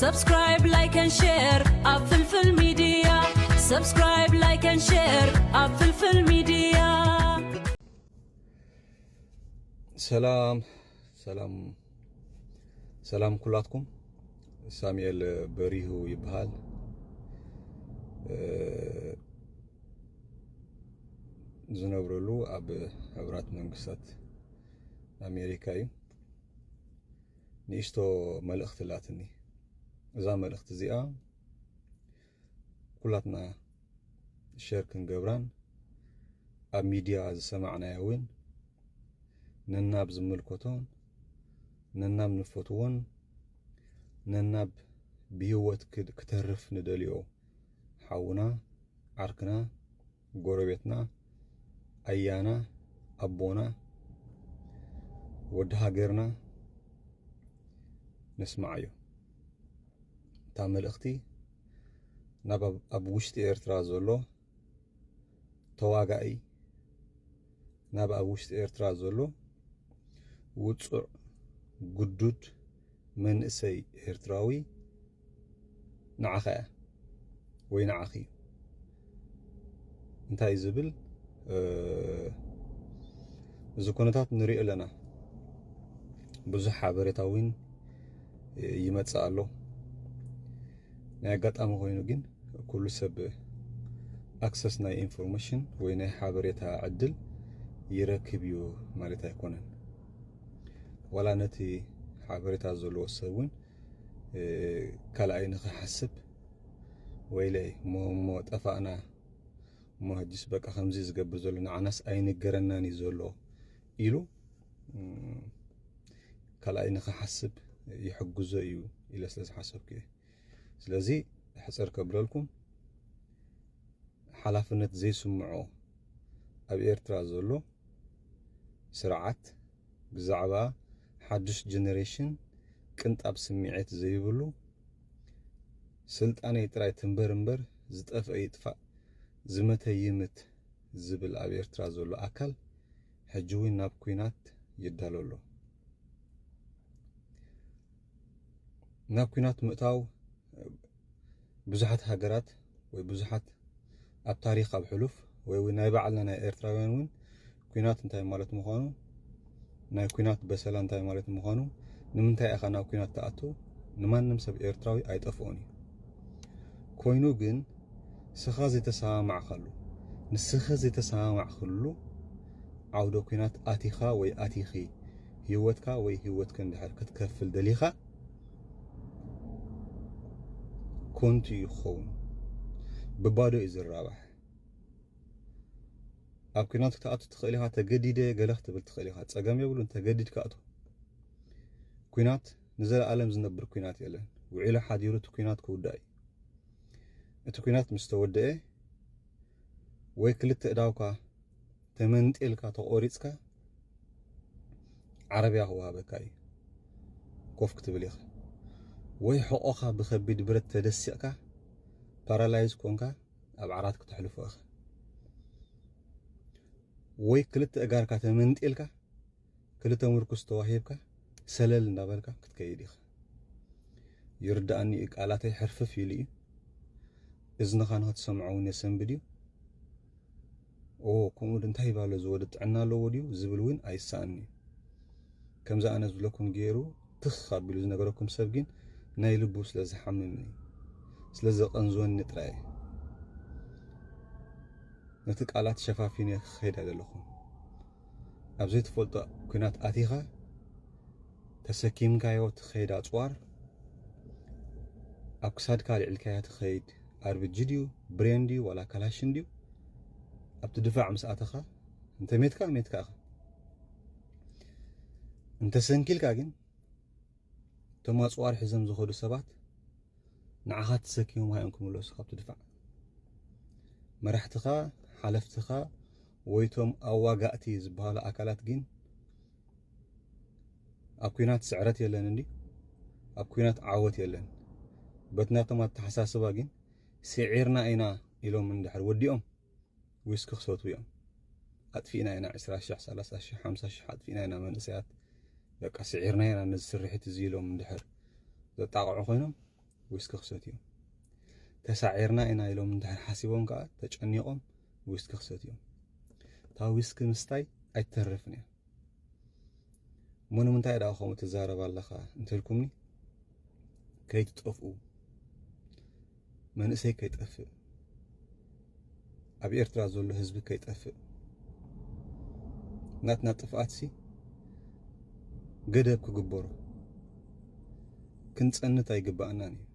Subscribe, like and share ኣብ ፍልፍል ሚድያ Subscribe, like and share ኣብ ፍልፍል ሚድያ ሰላም ሰላም ሰላም ኩላትኩም ሳሙኤል በሪሁ ይበሃል ዝነብረሉ ኣብ ሕብራት መንግስታት ኣሜሪካ እዩ ንእሽቶ መልእኽቲ ኣላትኒ። እዛ መልእኽቲ እዚኣ ኩላትና ሸር ክንገብራን ኣብ ሚድያ ዝሰማዕናያ እውን ነናብ ዝምልከቶን ነናብ ንፈትዎን ነናብ ብሂወት ክተርፍ ንደልዮ ሓውና ዓርክና ጎረቤትና ኣያና ኣቦና ወዲ ሃገርና ነስምዓዮ እታ መልእኽቲ ናብ ኣብ ውሽጢ ኤርትራ ዘሎ ተዋጋኢ ናብ ኣብ ውሽጢ ኤርትራ ዘሎ ውፁዕ ግዱድ መንእሰይ ኤርትራዊ ንዓኻ እያ ወይ ንዓኺ እዩ እንታይ ዝብል እዚ ኩነታት ንሪኦ ኣለና ብዙሕ ሓበሬታ እውን ይመፅእ ኣሎ ናይ ኣጋጣሚ ኮይኑ ግን ኩሉ ሰብ ኣክሰስ ናይ ኢንፎርሜሽን ወይ ናይ ሓበሬታ ዕድል ይረክብ እዩ ማለት ኣይኮነን ዋላ ነቲ ሓበሬታ ዘለዎ ሰብ እውን ካልኣይ ንክሓስብ ወይለይ እሞ ጠፋእና እሞ ሕጅስ በቃ ከምዚ ዝገብር ዘሎ ንዓናስ ኣይንገረናን እዩ ዘሎ ኢሉ ካልኣይ ንክሓስብ ይሕግዞ እዩ ኢለ ስለ ዝሓሰብኩ እየ ስለዚ ሕጽር ከብለልኩም ሓላፍነት ዘይስምዖ ኣብ ኤርትራ ዘሎ ስርዓት ብዛዕባ ሓዱሽ ጀነሬሽን ቅንጣብ ስምዒት ዘይብሉ ስልጣነይ ጥራይ ትንበር እምበር ዝጠፍአ ይጥፋእ ዝመተ ይምት ዝብል ኣብ ኤርትራ ዘሎ ኣካል ሕጂ እውን ናብ ኩናት ይዳሎ ኣሎ። ናብ ኩናት ምእታው ብዙሓት ሃገራት ወይ ብዙሓት ኣብ ታሪኽ ኣብ ሕሉፍ ወይ እውን ናይ ባዕልና ናይ ኤርትራውያን እውን ኩናት እንታይ ማለት ምዃኑ ናይ ኩናት በሰላ እንታይ ማለት ምዃኑ ንምንታይ ኢኻ ናብ ኩናት ትኣቱ ንማንም ሰብ ኤርትራዊ ኣይጠፍኦን እዩ ኮይኑ ግን ንስኻ ዘይተሰማማዕካሉ ንስኺ ዘይተሰማማዕክሉ ዓውደ ኩናት ኣቲኻ ወይ ኣቲኺ ሂወትካ ወይ ሂወትክን ድሕር ክትከፍል ደሊኻ ኮንቱ እዩ ክኸውን ብባዶ እዩ ዝራባሕ ኣብ ኩናት ክትኣቱ ትኽእል ኢኻ ተገዲደ ገለ ክትብል ትኽእል ኢኻ ጸገም የብሉን ተገዲድካ ኣቱ ኩናት ንዘለኣለም ዝነብር ኩናት የለን ውዒሉ ሓዲሩ እቲ ኩናት ክውዳእ እዩ እቲ ኩናት ምስ ተወደአ ወይ ክልተ እዳውካ ተመንጢልካ ተቖሪጽካ ዓረብያ ክወሃበካ እዩ ኮፍ ክትብል ኢኻ ወይ ሕቖኻ ብከቢድ ብረት ተደሲቕካ ፓራላይዝ ኮንካ ኣብ ዓራት ክተሕልፎ ኢኻ ወይ ክልተ እጋርካ ተመንጢልካ ክልተ ምርኩስ ተዋሂብካ ሰለል እንዳበልካ ክትከይድ ኢኻ። ይርድኣኒ እዩ ቃላተይ ሕርፍፍ ኢሉ እዩ። እዝንኻ ንኽትሰምዖ እውን የሰንብድ እዩ። ኦ ከምኡ ዶ እንታይ ይባሎ እዚ ወዲ ጥዕና ኣለዎ ድዩ ዝብል እውን ኣይሰኣን እዩ። ከምዚ ኣነ ዝብለኩም ገይሩ ትኽ ኣቢሉ ዝነገረኩም ሰብ ግን ናይ ልቡ ስለ ዝሓምምኒ ስለ ዘቐንዝወኒ ጥራይ እዩ ነቲ ቃላት ሸፋፊነ ክኸይድ ኣይደለኹን። ኣብ ዘይትፈልጦ ኩናት ኣቲኻ ተሰኪምካዮ ትኸይድ ኣጽዋር ኣብ ክሳድካ ኣልዕልካያ ትኸይድ ኣርብጂ ድዩ ብሬን ድዩ ዋላ ካላሽን ድዩ ኣብቲ ድፋዕ ምስ ኣተኻ እንተ ሜትካ ሜትካ ኢኻ እንተ ሰንኪልካ ግን እቶም ኣፅዋር ሒዞም ዝኸዱ ሰባት ንዓኻ ተሰኪሞም ሃዮም ክምለሱ ካብቲ ድፋዕ መራሕትኻ ሓለፍትኻ ወይ እቶም ኣዋጋእቲ ዝበሃሉ ኣካላት ግን ኣብ ኩናት ስዕረት የለን እንዲ ኣብ ኩናት ዓወት የለን በት ናቶም ኣተሓሳስባ ግን ስዒርና ኢና ኢሎም እንድሕር ወዲኦም ዊስኪ ክሰቱ እዮም ኣጥፊእና ኢና 20 ሸሕ 30 ሸሕ 50 ሸሕ ኣጥፊእና ኢና መንእሰያት በቃ ስዒርና ኢና ነዚ ስርሒት እዚ ኢሎም እንድሕር ዘጣቕዑ ኮይኖም ዊስኪ ክሰትዩን ተሳዒርና ኢና ኢሎም እንድሕር ሓሲቦም ከዓ ተጨኒቆም ዊስኪ ክሰትዩን እታ ዊስኪ ምስታይ ኣይትተርፍን እያ እሞ ንምንታይ ደኣ ከምኡ ትዛረብ ኣለኻ እንተልኩምኒ ከይትጠፍኡ መንእሰይ ከይጠፍእ ኣብ ኤርትራ ዘሎ ህዝቢ ከይጠፍእ ናትና ጥፍኣትሲ ገደብ ክግበሮ ክንጸንት ኣይግባኣናን እዩ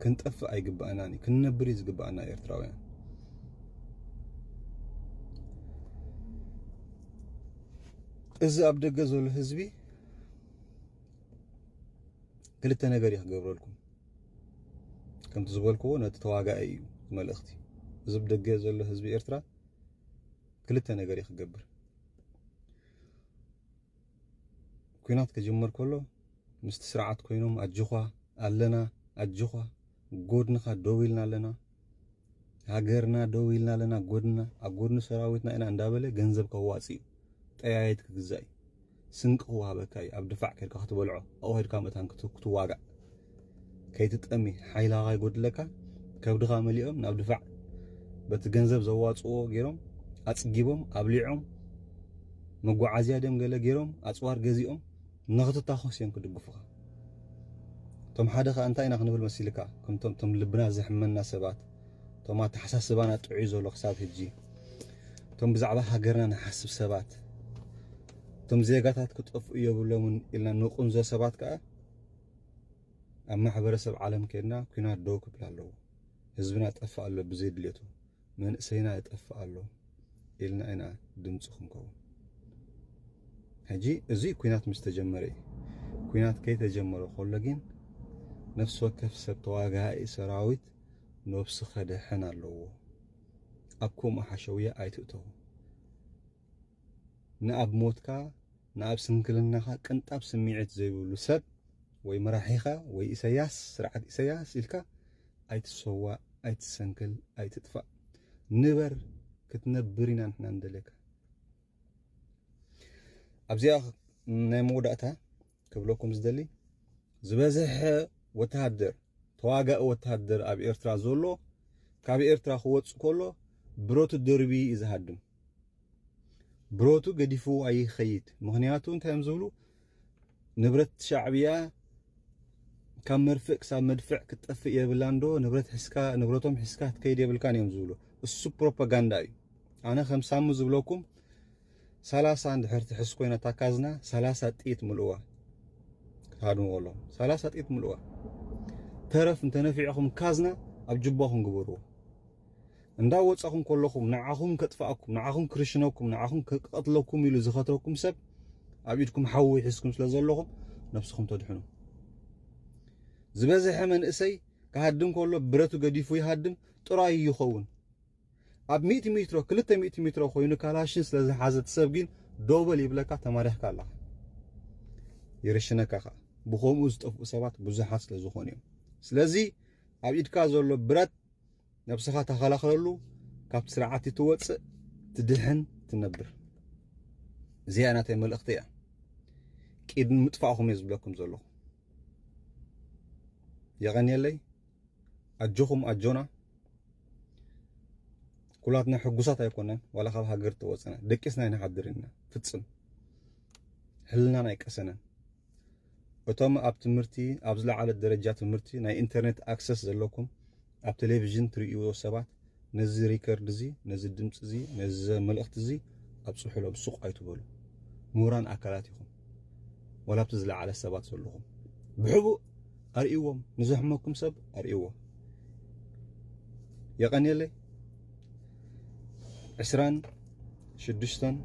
ክንጠፍእ ኣይግባኣናን እዩ ክንነብር እዩ ዝግባኣና ኤርትራውያን እዚ ኣብ ደገ ዘሎ ህዝቢ ክልተ ነገር እዩ ክገብረልኩም ከምቲ ዝበልክዎ ነቲ ተዋጋኢ እዩ መልእኽቲ እዚ ብደገ ዘሎ ህዝቢ ኤርትራ ክልተ ነገር እዩ ክገብር ኩናት ክጅምር ከሎ ምስቲ ስርዓት ኮይኖም ኣጆኻ ኣለና ኣጆኻ ጎድንኻ ደው ኢልና ኣለና ሃገርና ደው ኢልና ኣለና ጎድና ኣብ ጎድኒ ሰራዊትና ኢና እንዳበለ ገንዘብ ከዋጽእ እዩ ጠያየት ክግዛእ እዩ ስንቂ ክወሃበካ እዩ ኣብ ድፋዕ ከድካ ክትበልዖ ኣብኡ ከድካ መታን ክትዋጋእ ከይትጠሚ ሓይላ ከይጎድለካ ከብድኻ መሊኦም ናብ ድፋዕ በቲ ገንዘብ ዘዋፅዎ ገይሮም ኣፅጊቦም ኣብሊዖም መጓዓዝያ ደም ገለ ገይሮም ኣፅዋር ገዚኦም ንኽትታኾስ እዮም ክድግፉኻ እቶም ሓደ ከኣ እንታይ ኢና ክንብል መሲልካ ከምቶም እቶም ልብና ዘሕመና ሰባት እቶም ኣተሓሳስባና ጥዑይ ዘሎ ክሳብ ሕጂ እቶም ብዛዕባ ሃገርና ንሓስብ ሰባት እቶም ዜጋታት ክጠፍኡ የብሎምን ኢልና ንቁንዞ ሰባት ከኣ ኣብ ማሕበረሰብ ዓለም ከድና ኩናት ደው ክብል ኣለዎ ህዝብና ጠፋእ ኣሎ ብዘይ ድሌቱ መንእሰይና ይጠፍእ ኣሎ ኢልና ኢና ድምፂ ክንከውን ሕጂ እዚ ኩናት ምስ ተጀመረ እዩ ኩናት ከይተጀመረ ከሎ ግን ነፍሲ ወከፍ ሰብ ተዋጋኢ ሰራዊት ነብሱ ከድሕን ኣለዎ ኣብ ከምኡ ሓሸውያ ኣይትእተው ንኣብ ሞትካ ንኣብ ስንክልናኻ ቅንጣብ ስሚዒት ዘይብሉ ሰብ ወይ መራሒኻ ወይ ኢሰያስ ስርዓት ኢሰያስ ኢልካ ኣይትሰዋእ ኣይትሰንክል ኣይትጥፋእ ንበር ክትነብር ኢና ንሕና ንደልየካ ኣብዚኣ ናይ መወዳእታ ክብለኩም ዝደሊ ዝበዝሐ ወተሃደር ተዋጋኢ ወተሃደር ኣብ ኤርትራ ዘሎ ካብ ኤርትራ ክወጽእ ከሎ ብረቱ ደርቢ እዩ ዝሃድም ብረቱ ገዲፍዎ ኣይኸይድ ምኽንያቱ እንታይ እዮም ዝብሉ ንብረት ሻዕብያ ካብ መርፍእ ክሳብ መድፍዕ ክትጠፍእ የብላን ዶ ንብረት ሕስካ ንብረቶም ሕስካ ክትከይድ የብልካን እዮም ዝብሉ እሱ ፕሮፓጋንዳ እዩ ኣነ ከም ሳሙ ዝብለኩም ሰላሳ እንድሕር ትሕስ ኮይና ታካዝና ሰላሳ ጥይት ምልእዋ ክትሃድምዎ ኣለኹም ሰላሳ ጥይት ምልእዋ ተረፍ እንተነፊዕኹም ካዝና ኣብ ጅባኹም ግበርዎ እንዳ ወጻኹም ከለኹም ንዓኹም ከጥፋኣኩም ንዓኹም ክርሽነኩም ንዓኹም ክቀትለኩም ኢሉ ዝኸትረኩም ሰብ ኣብ ኢድኩም ሓዊ ሒዝኩም ስለ ዘለኹም ነብስኹም ተድሕኑ ዝበዝሐ መንእሰይ ክሃድም ከሎ ብረቱ ገዲፉ ይሃድም ጥራዩ ይኸውን ኣብ ሚእቲ ሜትሮ ክልተ ሚእቲ ሜትሮ ኮይኑ ካላሽን ስለ ዝሓዘ ትሰብ ግን ዶበል ይብለካ ተማሪሕካ ኣለኻ ይርሽነካ ከዓ ብከምኡ ዝጠፍኡ ሰባት ብዙሓት ስለ ዝኾኑ እዮም ስለዚ ኣብ ኢድካ ዘሎ ብረት ነብስኻ ተኸላኸለሉ ካብቲ ስርዓት እትወፅእ ትድሕን ትነብር እዚኣ ናተይ መልእኽቲ እያ ቂድን ምጥፋእኹም እየ ዝብለኩም ዘለኹ የቐንየለይ ኣጆኹም ኣጆና ኩላትና ሕጉሳት ኣይኮነን ዋላ ካብ ሃገር ተወፅና ደቂስና ኣይንሓድር ኢና ፍፅም ሕልናን ኣይቀሰነን እቶም ኣብ ትምህርቲ ኣብ ዝለዓለ ደረጃ ትምህርቲ ናይ ኢንተርኔት ኣክሰስ ዘለኩም ኣብ ቴሌቪዥን ትርእይዎ ሰባት ነዚ ሪከርድ እዚ ነዚ ድምፂ እዚ ነዚ መልእኽቲ እዚ ኣብፅሑሎም ሱቕ ኣይትበሉ ምሁራን ኣካላት ኢኹም ዋላ ኣብቲ ዝለዓለ ሰባት ዘለኹም ብሕቡእ ኣርእይዎም ንዘሕመኩም ሰብ ኣርእይዎ። የቀንየለይ ዕስራን ሽዱሽተን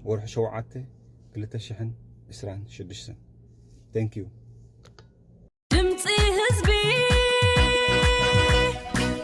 ወርሒ ሸውዓተ ክልተ ሽሕን ዕስራን ሽዱሽተን Thank you.